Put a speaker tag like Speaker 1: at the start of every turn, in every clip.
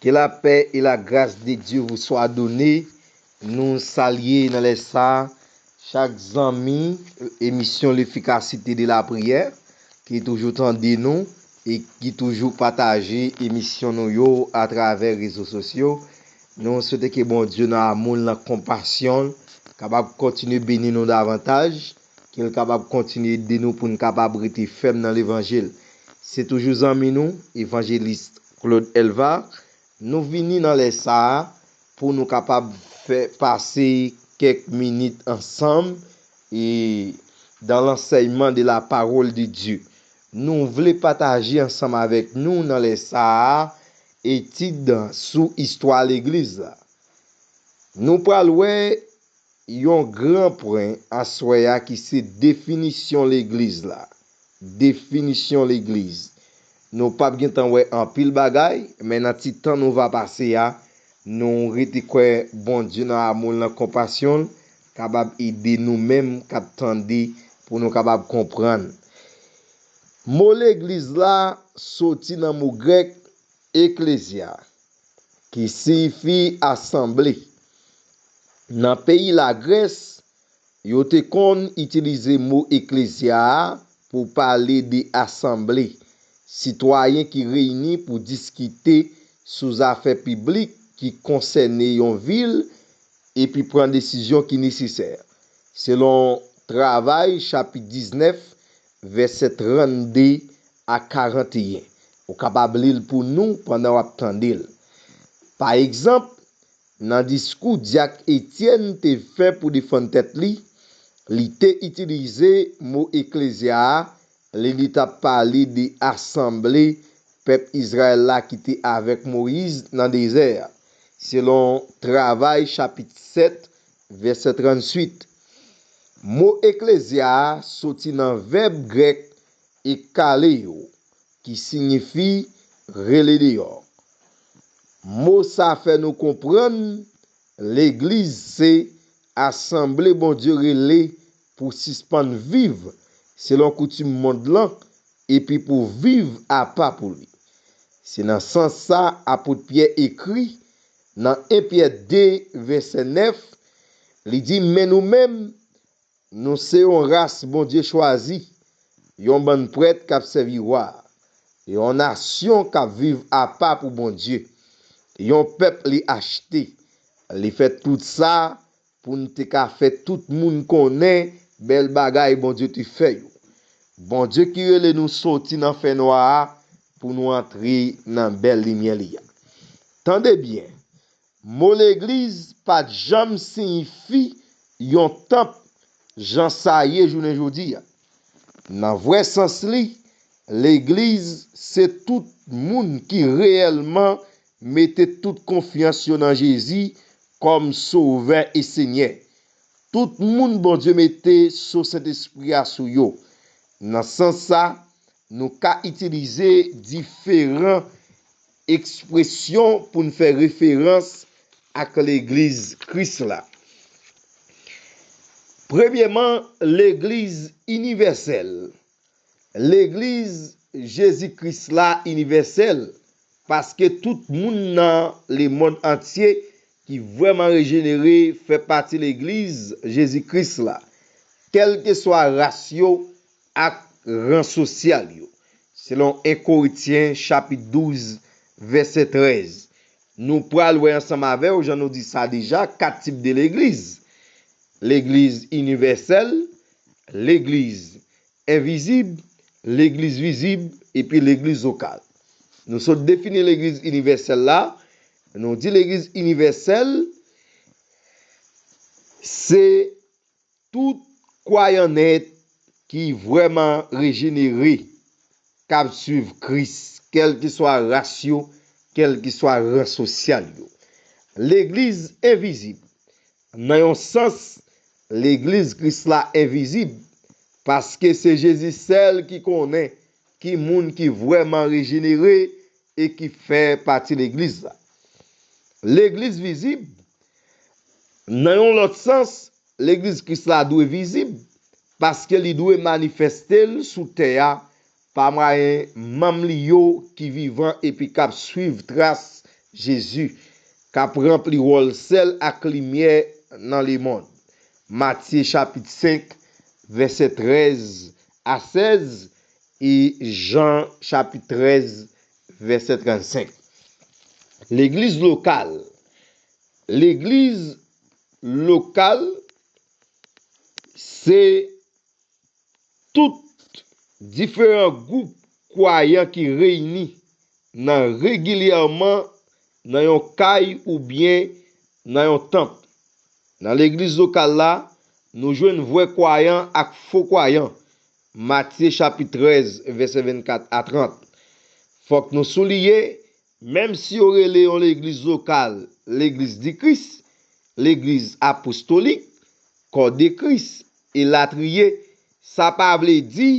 Speaker 1: Ke la pè e la gras de Dye vou swa done, nou salye nan lè sa chak zanmi emisyon lefikasite de la priyè ki toujou tande nou e ki toujou pataje emisyon nou yo a travè rezo sosyo, nou swete ke Bondye nan amoul nan konpasyonl kapab kontinye beni nou davantaj e Ke l kapab kontinye ede nou pou n kapab rete fèm nan levanjil. Se toujou zanmi nou, Evangeliste Claude Elvard. Nou vini nan lè sa a pou nou kapab fè pase kèk minit ansanm e dans l'enseignement de la parole de Dieu. Nou vle pataje ansanm avèk nou nan lè sa a etid sou istwa legliz la. Nou pral wè Yon gran pwen aswè a ki se definisyon legliz la. Definisyon legliz. Nou pap gen tan wè anpil bagay, men nan ti tan nou va pase a, nou rete kwè Bondye nan amou l, nan konpasyon l, kapab ede nou menm k ap tande pou nou kapab konprann. Mo legliz la soti nan mo grèk, eklezya, ki siyifi asanble. Nan peyi Lagrès, yo te konn itilize mo eklezya a pou pale de asanble, sitwayen ki reyini pou diskite sou zafè piblik ki konsène yon vil epi pran desizyon ki nesesè, selon Travay chapit 19, vèsè 32 a 41. Ou kapab li l pou nou pandan w ap tande l. Pa egzanp, nan diskou dyak Etyèn te fè pou defann tèt li, li te itilize mo eklezya a lè li t ap pale de asanble pèp Izrayèl la ki te avèk Moyiz nan dezè a, selon Travay chapit 7, vèsè 38. Mo eklezya a soti nan vèb grèk E kale yo, ki sinyifi rele deyò. Mo sa fè nou konprann legliz se asanble Bondye rele pou sispann viv selon koutim mond lan epi pou viv apa pou li. Se nan sans sa apot Pyè ekri nan 1 Pyè 2 vèsè 9, li di men nou menm Nou se yon ras Bondye chwazi, yon bann prèt k ap sèvi Wa a, yon nasyon k ap viv apa pou Bondye, yon pèp li achte. Li fè tout sa pou n te ka fè tout moun konnen bèl bagay Bondye te fè yo. Bondye ki rele nou soti nan fènwa a pou nou antre nan bèl limyè li a. Tande byen, Mo legliz pa t janm siyifi yon tanp jan sa ye jounen jodi a. Nan vrè sans li, legliz se tout moun ki reyèlman mete tout konfyans yo nan Jezi kòm Sovè e Senyè. Tout moun Bondye mete so Sentespri a sou yo. Nan sans sa, nou ka itilize diferan Ekspresyon pou n fè referans ak Legliz Kris la. Premyeman, Legliz inivèsèl. Legliz Jezi Kris la inivèsèl paske tout moun nan lemonn antye ki vrèman rejenere fè pati Legliz Jezi Kris la, kèlkeswa ras yo, ak ran sosyal yo. Selon 1 Korintyen chapit 12 vèsè 13. Nou pral wè ansanm avèw jan nou di sa deja 4 tip de legliz. Legliz inivèsèl, legliz envizib, legliz vizib epi legliz lokal. Nou sot defini legliz inivèsèl la, nou di legliz inivèsèl se Tout kwayan nèt ki vrèman rejenere k ap suiv Kris, kèlkeswa ras yo, kèlkeswa ran sosyal yo. Legliz envizib. Nan yon sans, Legliz Kris la envizib, paske se Jezi sèl ki konnen ki moun ki vrèman rejenere e ki fè pati Legliz la. Legliz vizib, Nan yon lòt sans, Legliz Kris la dwe vizib, paske li dwe manifeste l sou tè a pa mwayen manm li yo ki vivan epi k ap suiv tras Jezi, k ap ranpli wòl sèl ak limyè nan lemond. Matye chapit 5, vèsè 13 a 16, e Jan chapit 13 vèsè 35. Legliz lokal Legliz lokal se tout diferan gwoup kwayan ki reyini nan regilyèman Nan yon kay oubyen nan yon tanp. Nan legliz lokal la, nou jwenn vrè kwayan ak fo kwayan, Matye chapit 13 vèsè 24 a 30. Fòk nou souliye, menm si yo rele yon legliz lokal Legliz di Kris, Legliz Apostolik, Kò de Kris, elatriye, sa pa vle di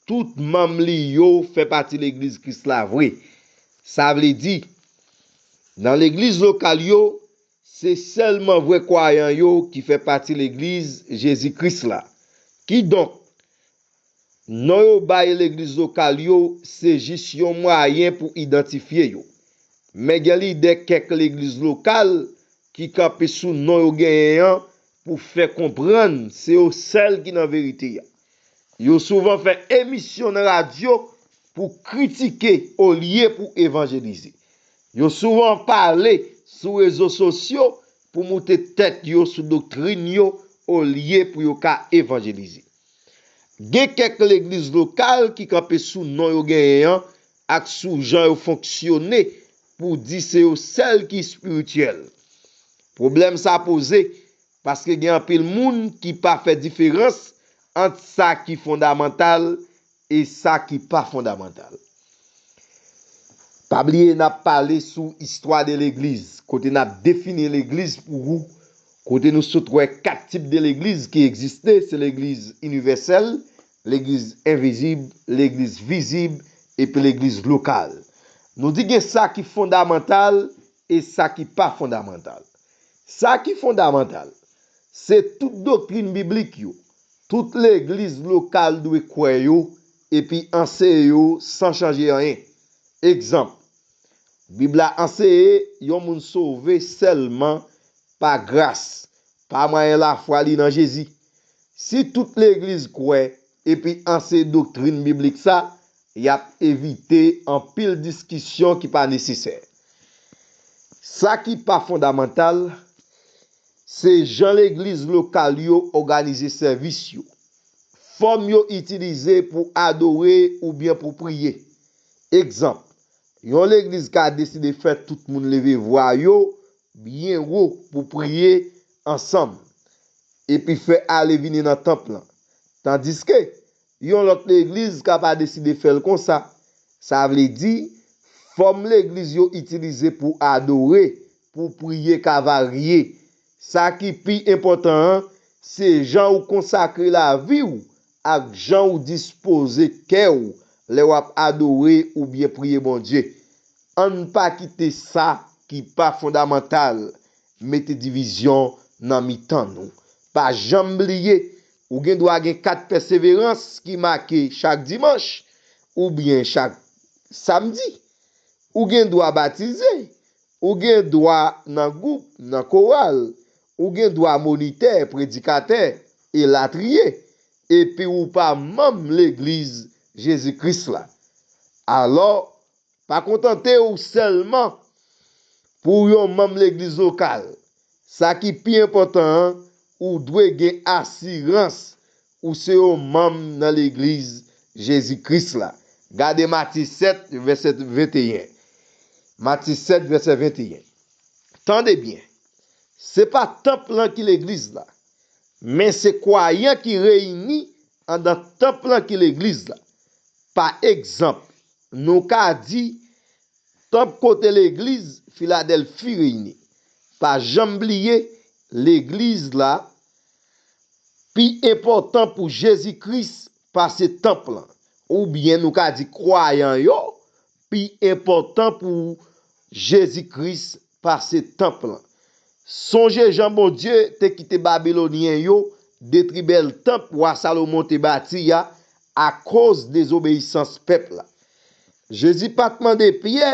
Speaker 1: Tout manm li yo fè pati Legliz Kris la vre. Sa vle di, nan legliz lokal yo, se sèlman vrè kwayan yo ki fè pati Legliz Jezi Kris la. Kidonk, non yo bay legliz lokal yo se jis yon mwayen pou idantifye yo. Men gen lidè kèk legliz lokal ki kanpe sou non yo genyen an pou fè konprann se yo sèl ki nan verite a. Yo souvan fè emisyon nan radyo pou kritike olye pou evanjelize. Yo souvan pale sou rezo sosyo pou moute tèt yo sou doktrin yo olye pou yo ka evanjelize. Gen kèk legliz lokal ki kanpe sou non yo genyen an ak sou jan yo fonksyone pou di se yo sèl ki espirityèl. Pwoblèm sa poze paske gen anpil moun ki pa fè diferans ant sa ki fondamantal e sa ki pa fondamantal. Pa bliye n ap pale sou Histoire de l'Eglise kote n ap defini legliz pou ou, kote nou sot wè 4 tip de legliz ki egziste, se legliz inivèsèl, Legliz envizib, legliz vizib, epi legliz lokal. Nou di gen sa ki fondamantal e sa ki pa fondamantal. Sa ki fondamantal, se tout doktrin biblik yo, tout legliz lokal dwe kwè yo epi anseye yo san chanje anyen. Egzanp, Bib la anseye yon moun sove sèlman pa gras, pa mwayen lafwa li nan Jezi. Si tout legliz kwè epi anseye doktrin biblik sa, y ap evite anpil diskisyon ki pa nesesè. Sa ki pa fondamantal, se jan legliz lokal yo òganize sèvis yo, fòm yo itilize pou adore oubyen pou priye. Egzanp, yon legliz ka deside fè tout moun leve vwa yo byen wo pou priye ansanm epi fè ale vini nan tanp lan. Tandiske, yon lòt legliz ka pa deside fè l konsa, sa vle di, fòm legliz yo itilize pou adore, pou priye ka varye. Sa ki pi enpòtan an, se jan ou konsakre lavi ou ak jan ou dispoze kè ou lè w ap adore oubyen priye Bondye. Ann pa kite sa ki pa fondamantal mete divizyon nan mitan nou. Pa janm bliye ou gen dwa gen kat pèseverans ki make chak dimanch oubyen chak samdi. Ou gen dwa batize. Ou gen dwa nan gwoup, nan koral. Ou gen dwa monitè, predikatè, elatriye, epi ou pa manm Legliz Jezi Kris la. Alò, pa kontante ou sèlman pou w yon manm legliz lokal. Sa ki pi enpòtan an, ou dwe gen asirans Ou se yon manm nan Legliz Jezi Kris la? Gade Mati 7, vèsè 21. Mati 7, vèsè 21. Tande byen, se pa tanp lan ki Legliz la, men se kwayan ki reyini anndan tanp lan ki Legliz la. Pa egzanp, nou ka di, Tanp kote Legliz Filadèlfi reyini. Pa janm bliye, Legliz la Pi enpòtan pou Jezi Kris pase tanp lan. Oubyen nou ka di kwayan yo pi enpòtan pou Jezi Kris pase tanp lan. Sonje jan Bondye te kite Babilonyen yo detri bèl tanp wa Salomon te bati a akoz dezobeyisans pèp la. Jezi pa t mande Pyè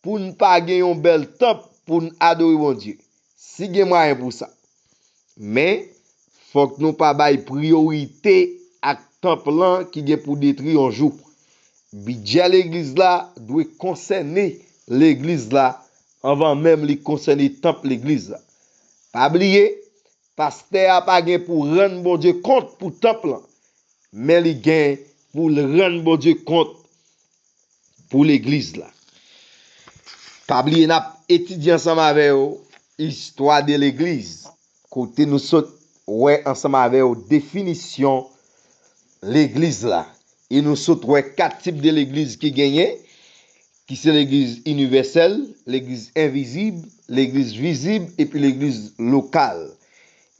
Speaker 1: pou n pa gen yon bèl tanp pou n adore Bondye, si gen mwayen pou sa. Men, fòk nou pa bay priyorite ak tanp lan ki gen pou detri yon jou. Bidjè legliz la dwe konsène legliz la anvan menm li konsène tanp legliz la. Pa bliye, pastè a pa gen pou rann Bondye kont pou tanp lan, men li gen pou l rann Bondye kont pou legliz la. Pa bliye n ap etidye ansanm avè w istwa de legliz kote nou sot wè ansanm avè w definisyon legliz la e nou sot wè 4 tip de legliz ki genyen ki se legliz inivèsèl, legliz envizib, legliz vizib epi legliz lokal.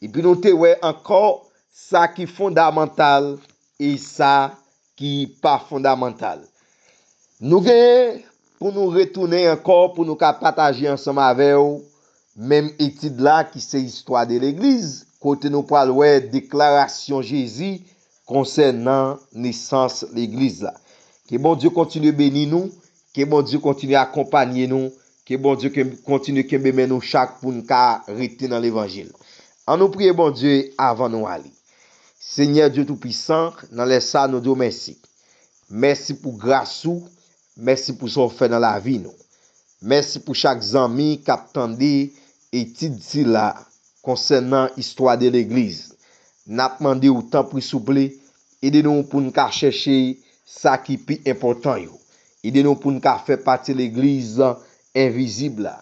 Speaker 1: Epi nou te wè ankò sa ki fondamantal e sa ki pa fondamantal. Nou gen pou nou retounen ankò pou nou ka pataje ansanm avè w menm etid la ki se Istwa de Legliz kote nou pral wè deklarasyon Jezi konsènan nesans Legliz la. Ke Bondye kontinye beni nou, ke Bondye kontinye akonpanye nou, ke Bondye kontinye kenbe men nou chak pou n ka rete nan levanjil. An nou priye Bondye avan nou ale. Senyè Dye Toupisan, nan lè sa a nou di w mèsi. Mèsi pou gras ou, mèsi pou sa w fè nan lavi nou. Mèsi pou chak zanmi k ap tande etid sila konsènan istwa de legliz. N ap mande w tanpri souple, ede nou pou n ka chèche sa ki pi enpòtan yo. Ede nou pou n ka fè pati legliz envizib la,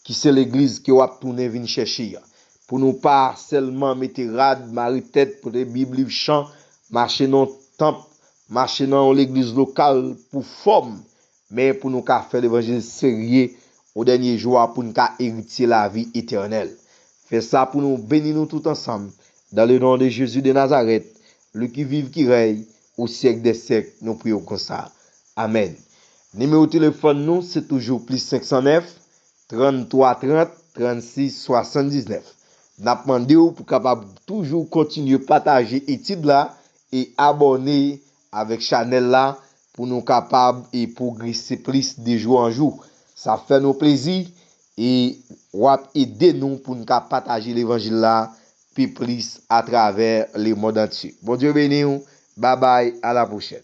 Speaker 1: ki se legliz ke wap tounen vin chèche a pou nou pa sèlman mete rad mare tèt pote bib liv chan mache nan yon tanp mache nan yon legliz lokal pou fòm men pou nou ka fè levanjil serye o dènye jou a poun ka eritye lavi etènèl fè sa pou nou beni nou tout ansanm dan le non de Jezi de Nazarèt li ki viv ki rèy Au siècle des siècles nou priye w konsa. Amen. Nimewo telefòn nou se toujou plis 509 33 30 36 79. N ap mande w pou kapab toujou kontinye pataje etid la e abòne avèk chanèl la pou nou kapab e pwogrese plis de jou an jou. Sa fè nou plezi e w ap ede nou pou n ka pataje levanjil la pi plis a travè le mond antye. Bondye beniw babay a la pwochèn.